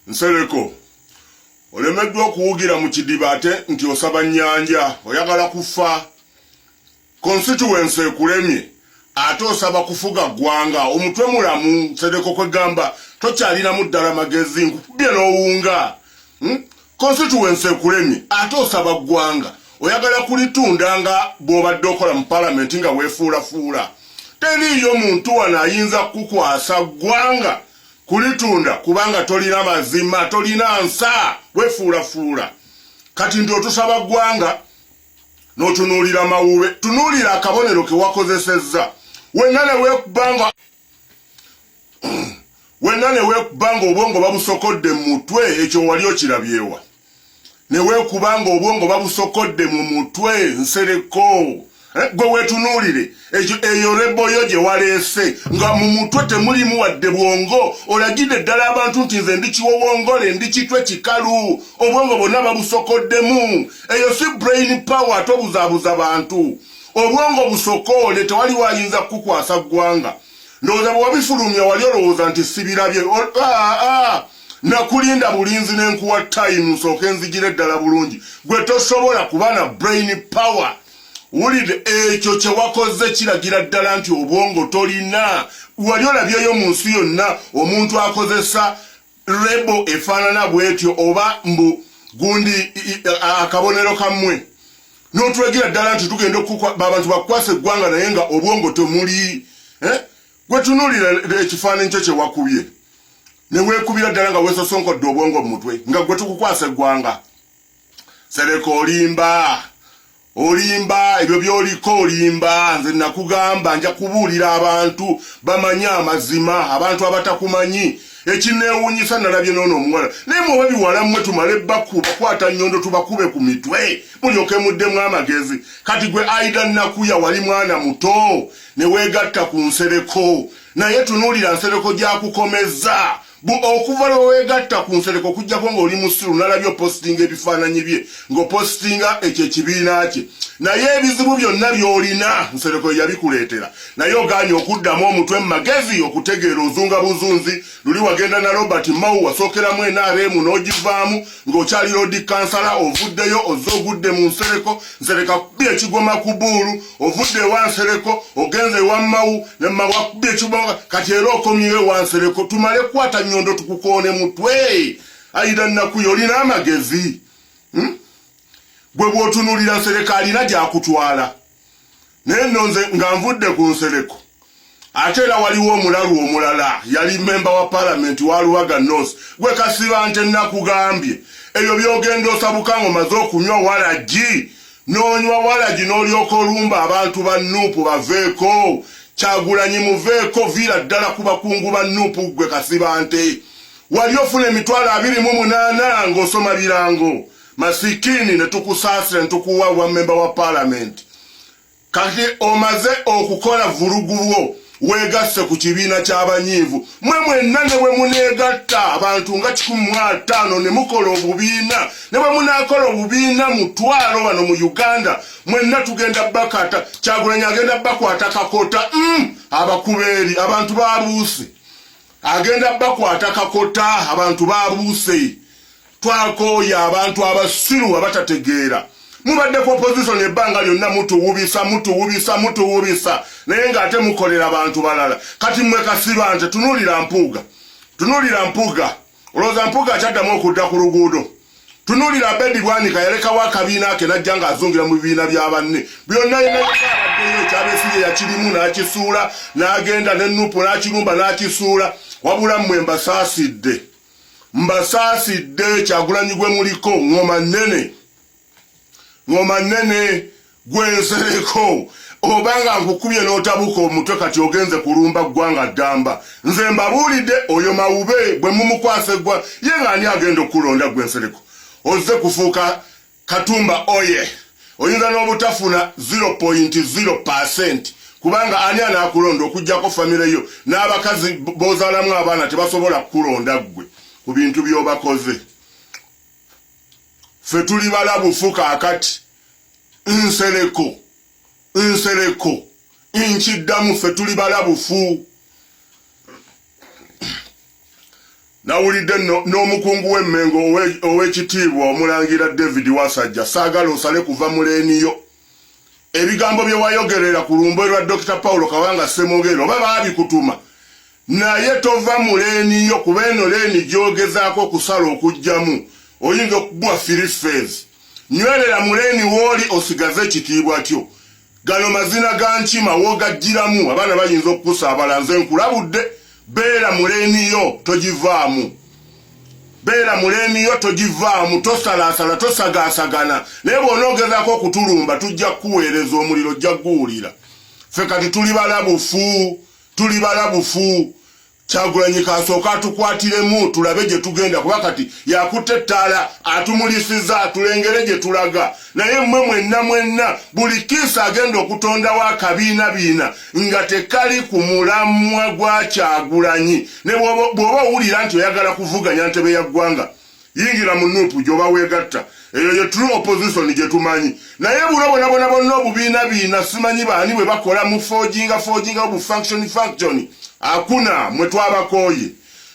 nsereko olemeddwa okuwugira mu kidiba ate nti osaba nyanja oyagala kufa constituency ekulemye ate osaba kufuga ggwanga omutwe mulamu nsereko kwegamba tokyalinamu ddala magezi nkukubye n'owunga hmm? constituency ekulemye ate osaba ggwanga oyagala kulitunda nga bw'obadde okola mu palamenti nga weefuulafuula teriiyo muntu wano ayinza kukukwasa ggwanga kulitunda kubanga tolina mazima tolina nsa wefuulafuula kati nti otusaba ggwanga n'otunuulira mawube tunuulira akabonero ke wakozesezza wenna ne weekubanga wenna ne weekuba ng'obwongo babusokodde mu mutwe ekyo wali okirabyewa ne weekuba ng'obwongo babusokodde mu mutwe nsereko eh, gwe weetunuulire ekyo eyo reboyo gye waleese nga mu mutwe temulimu wadde bwongo olagidde ddala abantu nti nze ndi kiwowongole ndi kitwe kikalu obwongo bwonna babusokoddemu eyo si brain power tobuzaabuza bantu obwongo busokoole tewali wayinza kukukwasa ggwanga ndowooza bwewabifulumya wali olowooza nti sibirabye ah, ah. nakulinda bulinzi nenkuwa time nsooke nzijire ddala bulungi gwe tosobola kuba na brain power wulide ekyo kyewakoze kiragira ddala nti obwongo tolina wali olabyeyo mu nsi yonna omuntu akozesa rebo efaanana bwetyo oba mbu gundi akabonero kammwe notulagira ddala nti tugenda abantu bakukwasa eggwanga naye nga obwongo temuli eh? gwetunulira ekifaananyi kyo kyewakubye newekubira ddala nga wesosonkodde obwongo mu mutwe nga gwe tukukwasa eggwanga sereka olimba olimba ebyo byoliko olimba nze nakugamba nja kubuulira abantu bamanye amazima abantu abatakumanyi ekinewunyisa nalabye nono omuwala naye mwoba biwala mmwe tumale baku bakwata nyondo tubakube ku mitwe mulyoke muddemu amagezi kati gwe aida nakuya wali mwana muto newegatta ku nsereko naye tunuulira nsereko gyakukomezza Bo okuva lwe weegatta ku Nsereko okuggyako ng'oli musiru nalabye opositinga ebifaananyi bye ng'opositinga ekyo ekibiina kye naye ebizibu byonna by'olina Nsereko ye yabikuleetera naye ogaanye okuddamu omutwe mu magezi okutegeera ozunga buzunzi luli wagenda na Robert Mao wasookeramu NRM n'ogivaamu ng'okyali loodi kansala ovuddeyo ozze ogudde mu Nsereko Nsereko akubye ekigoma ku buulu ovudde ewansereko ogenze ewammawu nemabwakubye ekiboga kati era okomyewo ewansereko tumale kukwata nyondo tukukoone mutwe ayida nnakuyo olina amagezi hmm? gwe bwotunulira nsereko alina gyakutwala naye nonze nga nvudde ku nsereko ate era waliwo omulalu omulala yali memba wa palamenti wa lubaga north gwe kasiba nte nakugambye ebyo byogenda osabukanga omaze okunywa walagi nonywa walagi nolyoka olumba abantu ba nuupu baveeko kyagulanyi muveeko viira ddala ku bakungu ba nuupu gwe kasiba nte wali ofuna emitwalo abiri mu munaana ng'osoma birango masikini ne tukusaasira ne tukuwa bwa memba wa palamenti Kati omaze okukola vulugu lwo wegasse ku kibiina ky'abanyiivu mwe mwenna ne bwe muneegatta abantu nga kikumi mu ataano ne mukola obubiina ne bwe munaakola obubiina mutwalo wano mu uganda mwenna tugenda bakata kyagulanyi agenda bakwata kakota mm, abakubeeri abantu babuuse agenda bakwata kakota abantu babuuse twakooye abantu abasiru abatategeera mubadde ku opposition ebbanga lyonna mutuwubisa mutuwubisa mutuwubisa naye ng'ate mukolera bantu balala kati mwe kasiba nze tunuulira mpuuga tunuulira mpuuga olowooza mpuuga akyaddamu okudda ku luguudo tunuulira abedi bwanika yalekawo akabiina ke najja ng'azungira mu bibiina bya banne byonna yinaaabaddeyo ekyabesiye yakirimu n'akisuula n'agenda ne nupu n'akirumba n'akisuula wabula mmwe mbasaasidde mbasaasidde kyagulanyi gwe muliko ngoma nnene ngoma nnene gwe nsereko oba nga nkukubye n'otabuka omutwe kati ogenze kulumba ggwanga ddamba nze mbabuulidde oyo mawube bwe mumukwasa eggwa ye ng'ani agenda okukulonda gwe nsereko ozze kufuuka Katumba oye oyinza n'obutafuna 0.0 kubanga ani anaakulonda okugyako famire yo n'abakazi b'ozaalamu abaana tebasobola kukulonda ggwe ku bintu by'obakoze ffe tuli balabufu kaakati nsereko nsereko nkiddamu ffe tuli balabufu nawulidde n'omukungu w'emmengo ow'ekitiibwa omulangira david wasajja saagala osale kuva mu leeni yo ebigambo bye wayogerera ku lumbo lwa dr paulo kabanga ssemwogerero oba baabikutuma naye tova mu leeni yo kuba eno leeni gyogezaako okusala okugyamu oyinza okugwa firi fees nywerera mu leeni wooli osigaze ekitiibwa kyo gano mazina ga nkima wogajjiramu abaana bayinza okukusaabala nze nkulabudde beera muleniyo togivaamu beera muleniyo togivaamu tosalaasala tosagaasagana naye bw'onoogezako okutulumba tujja kukuweereza omuliro ojja kuguwulira ffe kati tuli balabufu tuli balabufu Kyagulanyi kasooka atukwatiremu tulabe gye tugenda kuba kati yakutte ettaala atumulisiza tulengere gye tulaga naye mmwe mwenna mwenna buli kiisi agenda okutondawo akabiina biina nga tekali ku mulamwa gwa Kyagulanyi ne bw'oba owulira nti oyagala kuvuganya ntebe ya ggwanga yingira mu nupu gyoba wegatta eyo ye true opposition gyetumanyi naye buno bonabona bonna obubiina biina simanyi baani bwe bakola mu forginga forginga obu function function akuna mwe twabakooye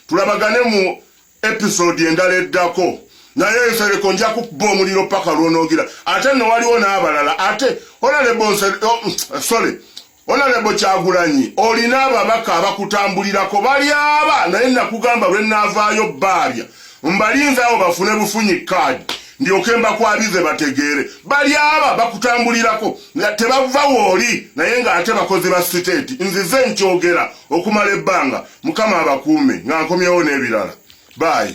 tulabagane mu episode endala eddako naye nsereko nja kukuba omuliro paka lwonogira ate nowaliwo n'abalala ate olale bonse oh, sorry Honorable Kyagulanyi olina ababaka abakutambulirako balyaba naye nakugamba lwe naavaayo bbaabya mbalinza awo bafune bufunyi kaadi ndyoke mbakwabize bategeere balyaba bakutambulirako nga tebava wooli naye ng'ate bakozi ba siteeti nzize nkyogera okumala ebbanga mukama abakuume nga nkomyewo n'ebirala baayi